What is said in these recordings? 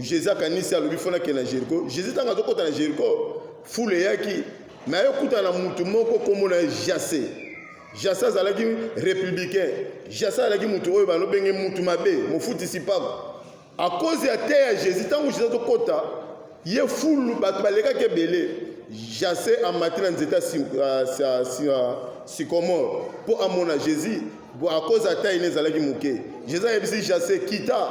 Jésus akanisi alobi fo nakende na Jericho. Jésus ntango azokota na Jericho, fule eyaki me ayokutana na motu moko nkombo na ye Jase. Jase azalaki républicain. Jase azalaki motu oyo balobenge motu mabe, mofutisi mpako. A cause ya te ya Jésus, ntango Jésus azokota, ye fulu bato balekaki ebele. Jase amati na nzete ya sikomore mpo amona Jésus. Bo akoza ata ine ezalaki moke. Jésus ayebisi Jase, kita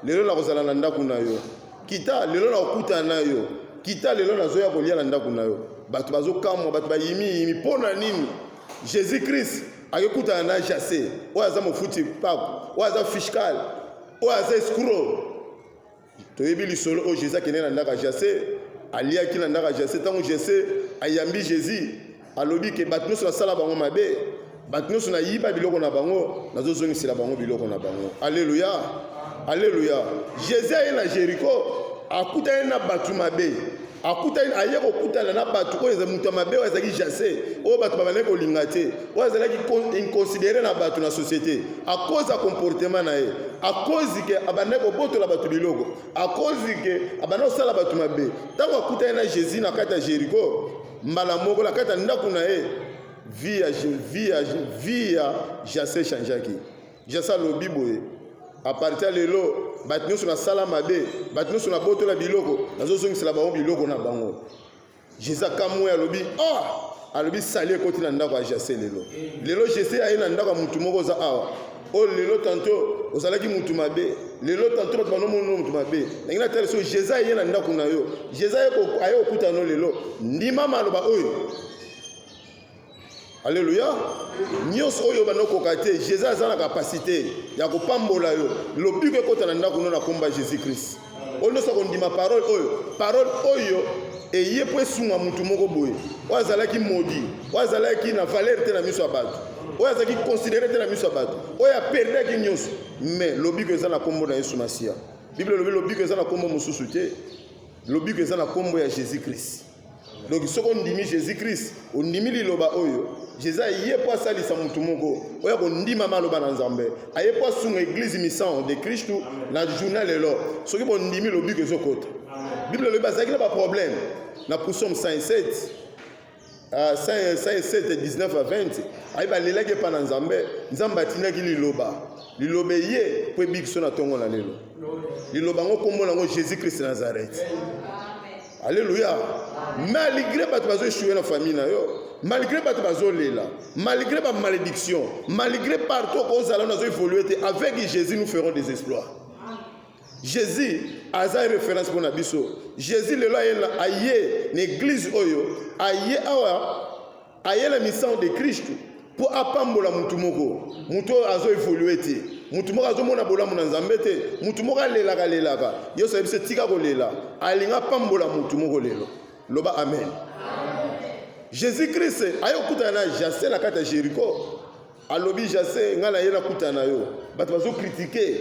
lelo nakozala na ndako na yo. Kita lelo nakokutana na yo. Kita lelo nazoya kolia na ndako na yo. Bato bazokamwa, bato bayimi yimi. Mpo na nini? Jésus Christ akekutana na Jase, oyo aza mofuti mpako, oyo aza fiscal, oyo aza escroc. Toyebi lisolo oyo Jesse akende na ndako ya Jesse, aliaki na ndako ya Jesse. Ntango Jesse ayambi Jésus, alobi ke bato nyonso nasala bango mabe, bato nyonso nayiba biloko na bango, nazozongisela bango biloko na bango. Aleluya, aleluya. Jesse aye na Jericho, akutani na bato mabe akutani aye kokutana na bato oyo moto ya mabe oyo azalaki Jesse, oyo bato babandaki kolinga te. oyo azalaki inconsidere na bato na société à cause ya comportement na ye à cause ke abandaki kobotola bato biloko à cause ke abandaki kosala bato mabe ntango akutani na jésus na kati ya jéricho mbala moko na kati ya ndako na ye vie ya vie ya vie ya jase changeaki jase alobi boye apartir lelo bato nyonso nasala mabe bato nyonso nabotola biloko nazozongisela bango biloko na bango jesus akamwe alobi ah alobi sali ekoti na ndako ya jase lelo lelo jese aye na ndako ya motu moko oza awa oyo oh, lelo tanto ozalaki motu mabe lelo tanto bato banomono motu mabe nangi natali so jeza eye na ndako na yo jeza aye kokutana no lelo ndima maloba oyo Alléluia. Nyonso oyo bana okoka te, Jésus aza na capacité ya kopambola yo. Lobiko ekota na ndako no na komba Jésus Christ. Oyo nyonso akondima parole oyo, parole oyo eye mpo esunga motu moko boye oyo azalaki modi oyo azalaki na valeur te na miso ya bato oyo azalaki considere te na miso ya bato oyo aperdaki nyonso mais lobiko eza na nkombo na yesu masiya biblia elobi lobiko eza na nkombo mosusu te lobiko eza na nkombo ya jésus christ Donc soki ondimi Jésus Christ, ondimi liloba oyo, Jésus aye mpo asalisa motu moko oyo akondima maloba na Nzambe, aye mpo asunga eglise misango de Kristu na journée lelo. Soki bondimi lobiko ezokota. Bible elobi bazalaki na baproblème na Psaume 107 107 19 à 20 aye balelaki epai na Nzambe, Nzambe atindaki liloba liloba eye mpo ebikisa na ntongo na lelo. Liloba yango nkombo na yango Jésus Christ Nazareth. Alléluia. Malgré bato bazo échouer na famille na yo, malgré bato bazo lela, malgré ba malédiction, malgré partout ozala nazo évoluer te, avec Jésus nous ferons des exploits. Jésus aza référence pour na biso. Jésus lelo aye na église oyo, aye awa Aye na misaho de Kristu mpo apambola motu moko, motu oyo azo evolue te, motu moko azo mona bolamu na Nzambe te, motu moko alelaka lelaka. Yesu ayebi se tika kolela, alingi apambola motu moko lelo. Loba amen. Jesus Christ aye kokutana na Jase na kati ya Jeriko, alobi Jase, ngai naye nakutana na yo. Bato bazo kritike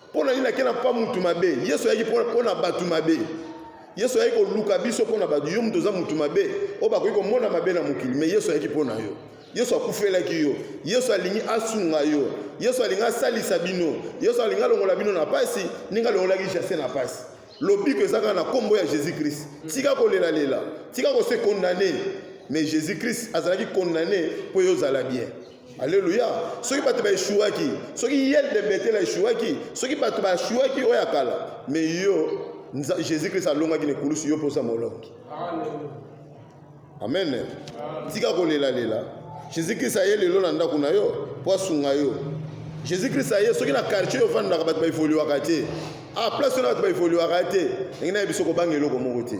Mpo na nini akenda mpo mutu mabe? Yesu ayaki mpo na bato mabe. Yesu ayaki koluka biso mpo na bato. Yo moto oza motu mabe oyo bakoki komona mabe na mokili, me Yesu ayaki mpo na yo. Yesu akufelaki yo. Yesu alingi asunga yo. Yesu alingi asalisa bino. Yesu alingi alongola bino na pasi, ndenge alongolaki Jase na pasi. Lobiko eza kaka na nkombo ya Jésus Christ. Tika kolelalela, tika kose condamne, mais Jésus Christ azalaki condamne mpo yo ozala bien. Alléluia. Soki bato ba eshuaki, soki yel de Bethel a eshuaki, soki bato ba eshuaki oya kala, mais yo Jésus Christ alongaki na ekulusu yo posa molongi. Amen. Tika kolela lela. Jésus Christ aye lelo na ndako na yo po asunga yo. Jésus Christ aye soki na quartier ofandaka bato ba evoluaka te. Ah place na bato ba evoluaka te. Ndenge na biso kobanga eloko moko te.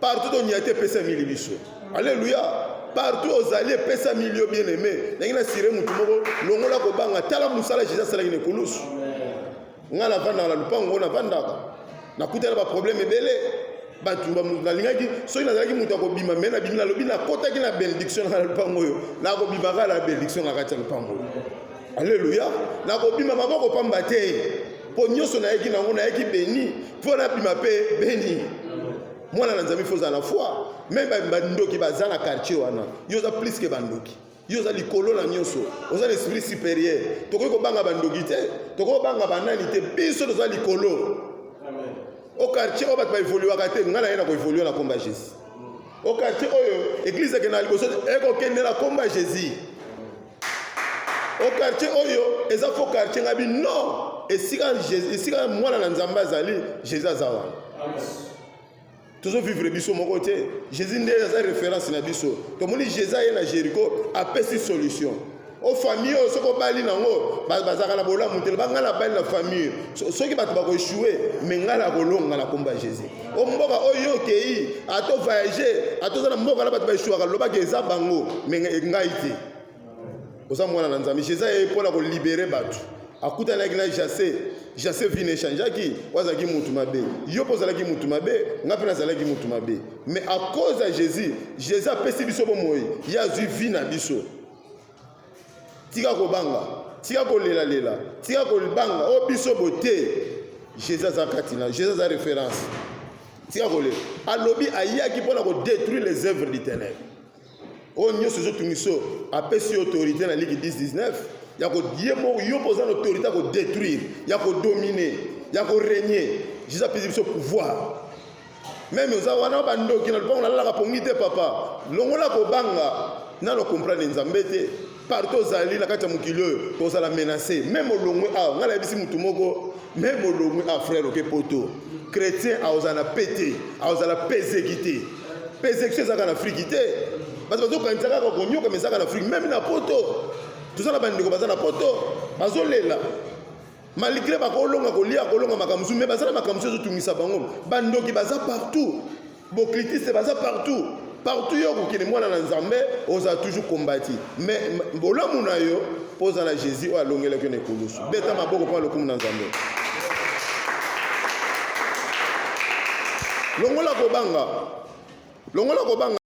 Partout to nyate pesa mili biso. Alléluia. Partout ozali pesa milio bien aimé. Nangi na sire mutu moko longola ko banga tala musala Jesus sala kine kulus. Nga na vanda na lupango na vanda. Na kutela ba problème ebele. Batu ba nalingaki soki nazalaki mutu akobima mais na bimi na lobi na kotaki na benediction na lupango yo. Na kobima kala benediction na kati ya lupango yo. Alléluia. Na kobima maboko pamba te. Po nyoso na yeki nango na yeki béni. Po na bima pe béni. Mwana na Nzambe faut na foi. Même ba ndoki baza na quartier wana. Yo za plus que ba ndoki. Yo za likolo na nyoso. Oza l'esprit supérieur. Tokoki ko banga ba ndoki te. Tokoki ko banga ba nani te. Biso toza likolo. Amen. Au quartier oyo bato ba évoluaka te. Nga na ye na ko évoluer na komba Jésus. Au quartier oyo église ekenda liboso ekokende na komba Jésus. au quartier oyo eza faux quartier ngabi non esika esika mwana na nzambe azali jésus aza wana tozovivre biso moko te jésus nde aza référence na biso tomoni jésus aye na jéricho apesi solution o famille oyo soki obali nango bazalaka na bolamu te loba ngai nabali na famille soki bato bakoechoue me ngai nakolonga na komba jésus o mboka oyo okei ata ovoyage ata oza na mboka na bato baeshuaka lobaki eza bango me e, ngai te oza mwana na nzambe jesus ye mpo na kolibere bato akutanaki na jase jase vi n'echangeaki oyo azalaki motu mabe yo mpe ozalaki motu mabe ngai mpe nazalaki motu mabe me akoza jesus jesus apesi biso bomoi ye azwi vi na biso tika kobanga tika kolelalela tika kolibanga o oh, biso boye te jésus aza kati na jésus aza référence tika kolela alobi ayaki mpo na kodétruire les œuvres du ténèbre oyo oh, nyonso ezotungisa oyo apesi yo autorité na liki 1019 ya ye moko yo mpo oza na autorité ya kodétruire ya kodomine ya koregne jésus apesi biso pouvoir meme oza wana ba ndoki na lopango nalalaka pongi te papa longola kobanga nano comprendre nzambe te partout ozali na kati ya mokili oyo kozala menace meme olongwe awa ngai nayebisi motu moko meme olongwe a frère oke poto chrétien akozala na pe te akozala pezeki te pezeki ezalaka na afriki te bato bazokanisa kaka konyokama ezalaka na afriki meme na poto toza na bandeko baza na poto bazolela Malgre bakolonga kolia kolonga makambo mosusu mais baza na makambo mosusu ezotungisa bango. Bandoki baza partout. Boclitiste baza partout. Partout yo okokende mwana na Nzambe ozala toujours combati. Mais bolamu na yo mpo oza na Jésus oyo alongelaki yo na ekulusu. Beta maboko mpo lokumu na Nzambe. Longola kobanga. Longola kobanga.